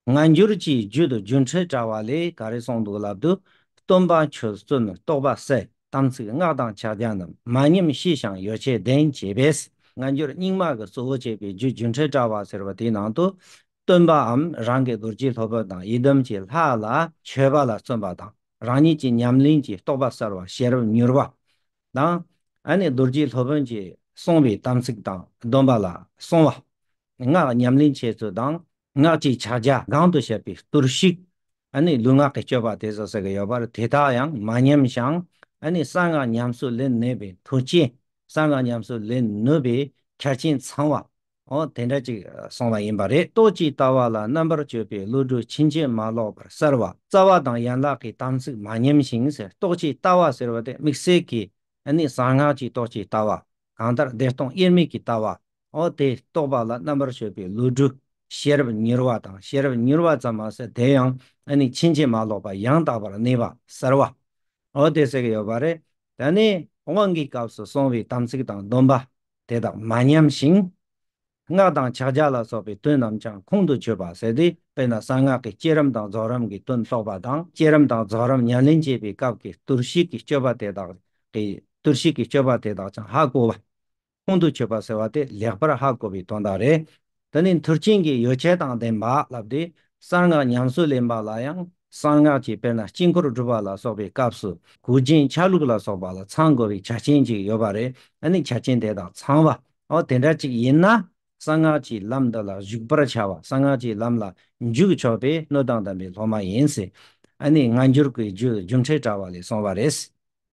སྔ་འགྱུར་གྱི་རྒྱུད་དུ་རྒྱུ་འཕྲུལ་དྲ་བ་ལས་ག་རེ་གསུངས་འདུག་ལབ་དུས་སྟོན་པ་ཆོས་བརྩོན་རྟོགས་པ་སའི་དམ་ཚིག་སྔགས་དང་ཕྱག་རྒྱ་རྣམས་མ་ཉམས་ཤེས་བྱང་ཡོ་བྱད་ལྡན་བྱས་པས་སྔ་འགྱུར་རྙིང་མ་གི་གཙོ་བོ་བྱས་པའི་རྒྱུད་རྒྱུ་འཕྲུལ་དྲ་བ་ཟེར་བ་དེའི་ནང་དུ་སྟོན་པའམ་རང་གི་རྡོ་རྗེ་ལྷོ་བུ་དང་ཡི་དམ་གྱི་ལྷ་ལ་མཆོད་པ་ལ་བརྩོན་པ་དང་རང་ཉིད་ཀྱི་ཉམས་ལེན་གྱི་རྟོགས་པ་གསར་བ་ཤེས་རབ་མྱུར་བ་དང། ཨ་ནི་རྡོ་རྗེ་ལྷོ་བོན་གྱིས་གསུངས་པའི་དམ་ཚིག་དང་སྡོམ་པ་ལ་བསྲུང་བ། སྔགས་ཉམས་ལེན་བྱས་ཚུལ་དང། སྔགས་ཀྱི་ཕྱག་རྒྱ་གང་དུ་བཤད་པའི་གཏོར་བཤིག་ནི་ལུས་ངག་གི་སྤྱོད་པ་དེ་སོགས་གསལ་ཡོད་པར་དེ་དག་ཡང་མ་ཉམས་ཤིང་གསང་སྔགས་ཉམས་སུ་ལེན་ནུས་པའི་མཐུ་ཅན། གསང་སྔགས་ཉམས་སུ་ལེན་ནུས་པའི་ཁྱད་རྐྱེན་ཚང་བ། དེ་འདྲ་ཅིག་སོང་བ་ཡིན་པ་རེད། གཏོ་གཅིག་ལྟ་བ་ལ་རྣམ་པར་དཔྱོད་པའི་བློ་གྲོས་ཕྱིན་ཆད་མ་ལོག་པར་གསལ་བ་རྩ་བ་དང་ཡན་ལག་གི་དམ་ཚིག་མ་ཉམས་ཤིང་གཏོ་གཅིག་ལྟ་བ་ཟེར་བ་དེ་དམིགས་བསལ་གྱི་གསང་སྔགས་ཀྱི་གཏོ་གཅིག་ལྟ་བ་གང་ལྟར་བདེ་སྟོང་དབྱེར་མེད་ཀྱི་ལྟ་བ། འོ་དེས་རྟོགས་པ་ལ་རྣམ་པར་ཤེས་པའི་ལུས་འགྲུབ། ཤེས་རབ་མྱུར་བ་དང་ཤེས་རབ་མྱུར་བ་ཙམ་མ་ཟད་དེ་ཡང་ནི་ཕྱིན་ཅི་མ་ལོག་པ་ཡང་དག་པར་གནས་པ་གསལ་བ། འོ་དེ་སྲེག་ཡོད་པ་རེད། དེ་ནས་དབང་གི་སྐབས་སུ་གསུང་བའི་དམ་ཚིག་དང་སྡོམ་པ་དེ་དག་མ་ཉམས་ཤིང། སྔགས་དང་ཕྱག་རྒྱ་ལ་སོགས་པའི་དོན་རྣམས་ཀྱང་ཁོང་དུ་ཆུད་པར་ཟད་དེ་དཔེར་ན་གསང་སྔགས་ཀྱི་སྐྱེད་རིམ་དང་རྫོགས་རིམ་གྱི་དོན་རྟོགས་པ་དང་སྐྱེད་རིམ་དང་རྫོགས་རིམ་ཉམས་ལེན་བྱེད་པའི་སྐབས་ཀྱི་གཏོར་བཤིག་གི་སྤྱོད་པ་དེ་དག་གིས་གཏོར་བཤིག་གི་སྤྱོད་པ་དེ་དག་ཀྱང་ཧ་གོ་བ། ཁོང་དུ་ཆུད་པ་ཟེར་བ་དེ་ལེགས་པར་ཧ་གོ་བའི་དོན་དག་རེད། འདི་ནི་མཐུ་རྐྱེན་གྱི་ཡོ་བྱད་དང་ལྡན་པ་ལབ་སྟེ་གསང་སྔགས་ཉམས་སུ་ལེན་པ་ལ་ཡང་གསང་སྔགས་ཀྱི་དཔེར་ན་དཀྱིལ་འཁོར་སྒྲུབ་པ་ལ་སོགས་པའི་སྐབས་སུ་གུར་རྒྱན་ཆ་ལུགས་ལ་སོགས་པ་ལ་ཚང་དགོས་པའི་ཆ་རྐྱེན་ཅིག་ཡོད་པ་རེད་ཨ་ནི་ཆ་རྐྱེན་དེ་དག་ཚང་བ། འོ་དེ་འདྲ་ཅིག་ཡིན་ན་གསང་སྔགས་ཀྱི་ལམ་འདི་ལ་གཞུག་པར་བྱ་བ་གསང་སྔགས་ཀྱི་ལམ་ལ་འཇུག་ཆོག་པས་སྣོད་དང་ལྡན་པའི་སློབ་མ་ཡིན། ཨ་ནི་སྔ་འགྱུར་གྱི་རྒྱུད་རྒྱུ་འཕྲད་དྲ་བ་ལས་སོང་བ་རེད།